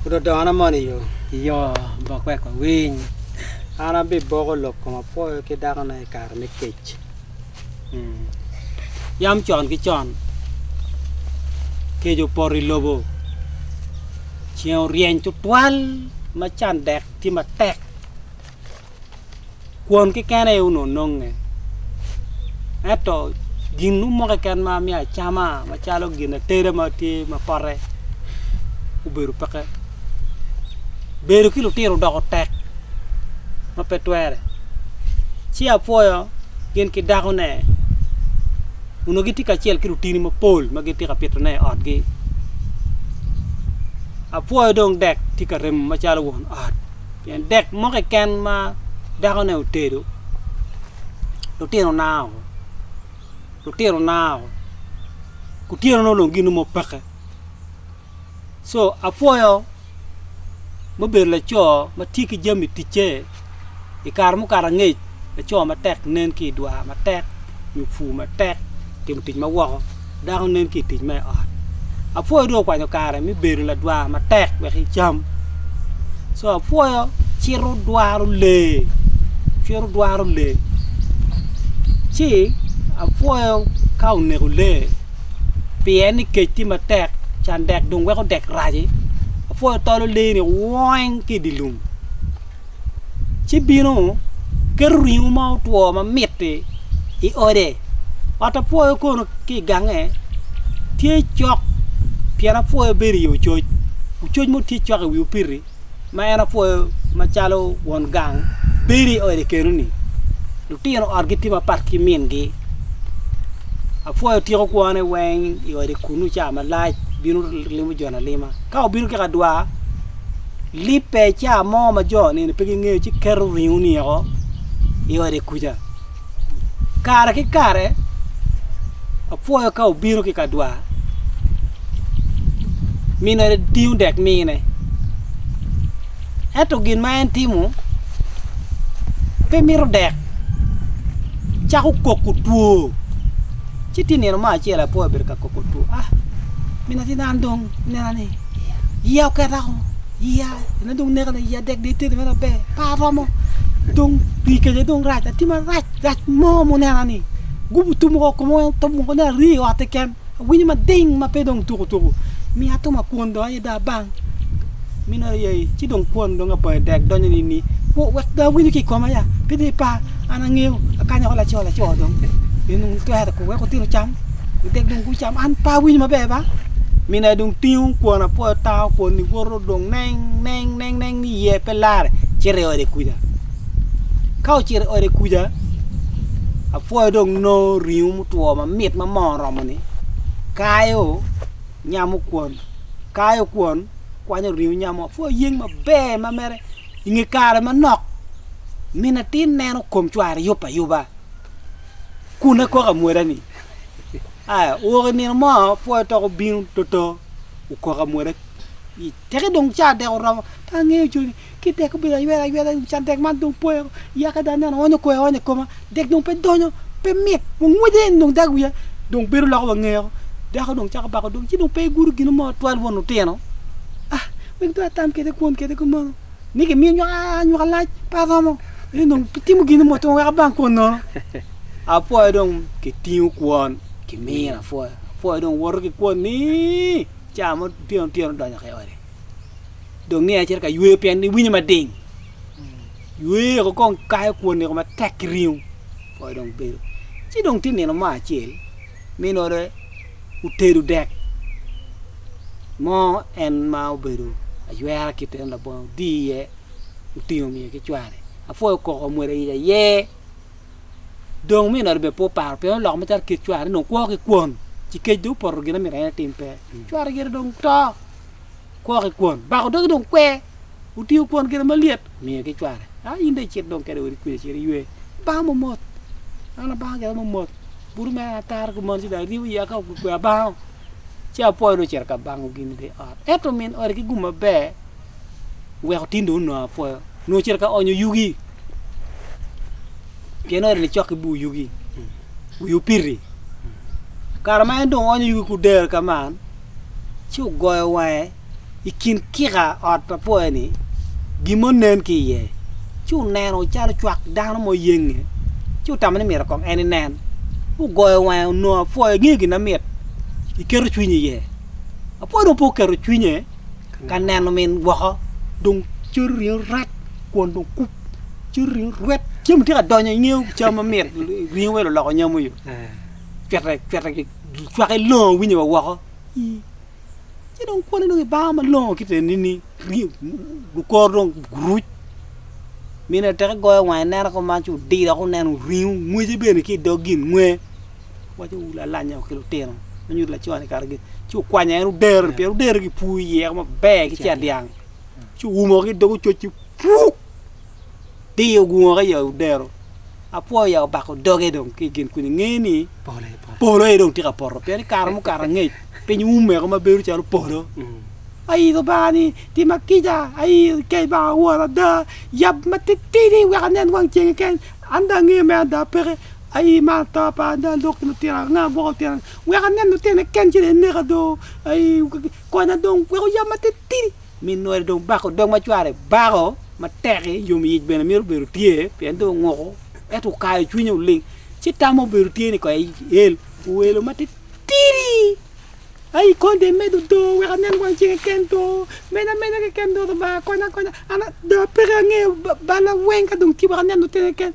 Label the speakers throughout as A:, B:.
A: Ododono moni yo, yo bok
B: wek wawiny. An
A: abiboko lok kom apwoyo ki dakona i kare me kec. Hmm.
B: Yam con ki con, kec opoto i lobo, ceng oryeny tutwal ma can dek tye matek. kwon keken aye onongo nonge ento gin mo keken ma myero acama macalo gin ateda ma tye ma pote obedo peke bedo ki lutino odoko tek ma pe twere ci apwoyo gin ki dakone onongo gitye kacel ki lutini mapol ma gitye ka pitone i otgi apwoyo dong dek tye ka remo macalo won ot. Pien dek mo keken ma dakone otedo, lutino nao, lutino nao, kutyeno nongo dong ginongo peke. Co apwoyo mubedo laco ma tye ki jami ticce i kare mukato angec. Laco matek nen ki i dwar matek nyo pur matek timo tic ma woko, dako nen ki i tic me ot. Apwoyo dong okwanyo kare me bedo ladwar matek wek icam. Co apwoyo cito dwaro lee, cito dwaro lee ci apwoyo ka oneko lee pien ni kec tye matek can dek dong weko dek rac-ci apwoyo tolo lee-ni weng ki i dye lum. ci bino keto ringo ma otwo ma mit-ti i ode. Ot apwoyo kono ki i gange tye cok pien apwoyo bedo iye ococ, ococ mo tye cok i wi opiti ma en apwoyo macalo won gang bedo i ode keno-ni. Lutino otgi tye mapat ki mingi, apwoyo tiko kwone weng i ode kunu ca malac bino limo jone alima ka obino ki kadwar. Libbe i cawa mo ma jo nino pe gingeyo ci keto ringo-ni woko i ode kuca. Kare ki kare apwoyo ka obino ki i ka dwar, min ode tingo dek mine. Ento gin ma en timo pe mito dek, cako koko two. Ci tye nino mo acel apwoyo obedo ka koko two, 'a min atin an dong inena ni Iya oketa woko, iya ena dong nekona, iya dek dong itedi mere maber, pe aromo. Dong pi kece dong rac, atye marac, rac mo munena ni gubo tum woko koma weng otum woko ni ari i ot keken. Awinyo mading ma pe dong tuku tuku. Miya atum akwon dong aye dong abang. Min ot aye ai, ci dong kwon dong abonge dek donyo nining? Wo wek dong awinyo ki i koma ya, pe dong ipar, an angeyo, akanyo woko laco laco dong, nino dong twero weko tino cam. Gitek dong gucam. An pe awinyo maber ba. Mina dong tingo kwon apoyo tango kwon ni woto dong neng neng neng neng ni ye pe lare cito i ode kuja. Ka ocito i ode kuja apoyo dong no ringo mutwo mamit ma moo oromo ni kayo nyamo kwon kayo kwon kwanyo ringo nyamo apoyo yeng maber ma mere inge kare manok mina tin neno kom cware yub ayuba. kun akok amwoda ni, Aya, wok i nino mo, pwoyo tok obino toto, okok amwoda i teke dong caa dek oromo, pe angeyo coni, ki dek obedo ayweda ayweda, can dek man dong pwoyo, yaka dong aneno onyo koyo aonya i koma, dek dong pe donyo, pe mit, wa ngwece eni dong dag wiya dong bedo loko wa ngea o, dako dong cako bako dog, ci dong pe igudo gino mo twal won lutino, ah, wek dong atam kede kwon kede kumeno, ni gimiyo nywaka, nywaka lac, pe aromo. ni dong kitimo gin mo to wek abang kwon nono. Apwoyo dong kitingo kwon kimiyo mm. apwoyo. Apwoyo dong woto ki kwon ni caa mo tyeno tyeno donyo ki ode. Dong ni acito ka yweyo pien ni winyo mading. Mm. Yweyo ko kong kayo kwon niko matek ki ringo. Apwoyo dong bedo. Ci dong tye nino mo acel minore utedo dek mo en ma obedo aywera kite labongo di iye otingo omiyo ki cware apwoyo koko omwodo iye aye dong omiyo nongo bene pe oparo pien oloko macalo kit cware nongo kwo ki kwon ci kec dong opoto gin ma myero en etim pe cware gire dong to kwo ki kwon bako doge dong kwe otingo kwon gire malyet omiyo ki cware a in dong icit dong kede odi kwija cit iywe bang momot an abanga gire momot bute mere an ataro ki mon ci dong aryemo iya ka okikwe abango ci apwoyo dong ocito ka bango gin i te ot ento min ot ki gum maber weko tinde onongo apwoyo nongo ocito ka onyo yugi pien ot ni cok ki bur yugi wi opiti kare ma en dong onyo yugi ku dero ka man ci ogoyo wange i kin kika ot pa pwoyo ni gin mo nen ki iye ci oneno calo cwak dano mo yenge ci otamo ni myero kong en inen ogoyo wange onongo apwoyo ingeyo gin na myero iketo cwinyi iye apwoyo dong pe oketo cwinye ka neno min gwoko dong cero ringo rat kwon dong kup cero ringo rwet cem tye ka donyo i ngeo cam ma mit ringo welo loko nyamo yo cwete cwete ki cwake longo winyo wa woko ci dong kwone dong ibanga ma longo ki te nini gukor dong guruc mine teke goyo wange neno ko man ci odido ko neno ringo ngwece bene ki dog gin ngwe Owaco wu lalanya wa ki lutino ma nyuto laco-ni kato gin, ci wukwanya en odero pien odero ki pur iye ma ber ki ca dyang. Ci owumo ki dog ococ ci puk diyo gungo ki yo odero. Apwoyo ya obako doge dong ki gin kuni nge ni polo aye dong tye ka poto pien kare mukato angec piny umeko ma bedo calo polo. Ayi Lubanga ni tima kica, ayi kec banga wora ada, yab matitidi wek anen wang ceng keken, an dong angeyo mere ada peke. Aii mar to pa ada lok ki lutina anga gwoko lutina ni wek anen lutina ni ken ci dong ineka do aii konya dong wek oyab matitidi min nori dong bako dog ma cware bako matek i yom yic bene mito bedo tye pien dong onguko ento okayo cwinye oling ci tam ma obedo tye ni konya el oelo matitidi aii kony dong imedo do wek anen wang ceng keken do meny amenya keken do lubanga konya konya an ada peke angeyo balla weng ka dong tye wek anen lutina ni ken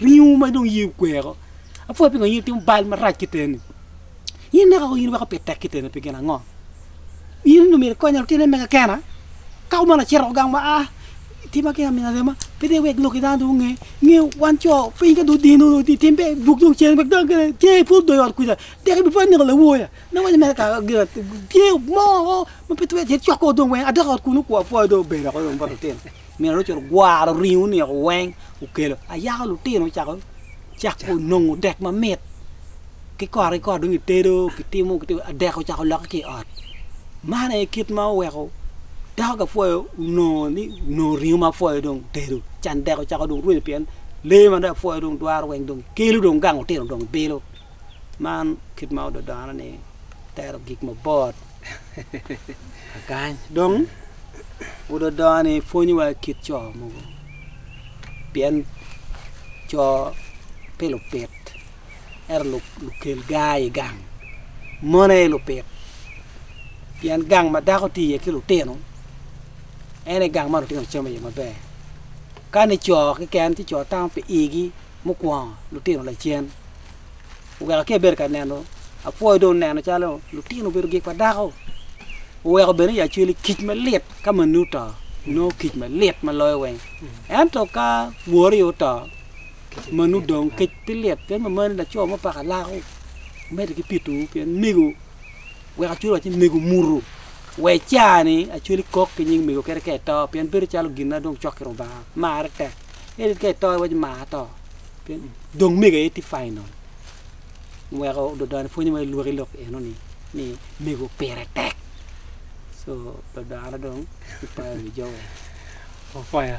B: Ringo ma dong iyee okweko. Apwoya pingo in itimo bal marac ki teni. In neka in weko pe tek ki teni pi gin ango? In onongo myero ikonya lutine mega kena. Ka kumeno acito oko gang ma a tima ki amin arema pe dong iwek loki dano dong onge. Nge wan co piny ka dong odino dong itim pe dwog dong cen wek dano gene ce ipwod dong i ot kwica dok ibipwod ineko lawoya. Me waco mere kara gin tye mo ma pe twero cito cok kong dong weng adok i ot kunu kwapwoya dong obedo woko dong bot lutino. Min Racel ogwaro ringo oneko weng okelo ayaka lutino ocako cako nongo dek mamit ki kore ki kore dong kitedo kitimo dek ocako lokke ki i ot man aye kit ma oweko dako ka pwoyo onongo ni onongo ringo ma pwoyo dong otedo can dek ocako rwenyo pien lee ma dong apwoyo dong twero weng kelo dong gang otino dong bilo. man kit ma ododone ni tero gik mabot akany dong ododone ni pwonyowa kit co mogo pien co pe lupit ento lukel gar i gang mon aye lupit pien gang ma dako tye iye ki lutino en aye gang ma lutino camo iye maber kani co keken ci co tamo pi igi. mukwongo lutino lacen oweka ki abedo ka neno apwoyo dong neno calo lutino obedo gik pa dako oweko bene ya cweli kic malit ka mani oto nongo kic malit ma loyo weng ento ka wori oto manu dong kic pi lit pien ma mani laco mo paka lako mede ki pi tuu pien mego weka cweli waci mego mutu wa icani acweli kok ki nying mego kadi ka ito pien bedo calo gin na dong cok ki rubanga marre tek Eric ka eto iwaco ma ato. Pien dong mega aye tye final. Weko dodone pwonyo ma ilwok ilok eno ni ni mego pire tek. So dodone dong ipoyo wi jo weng. Opoyo.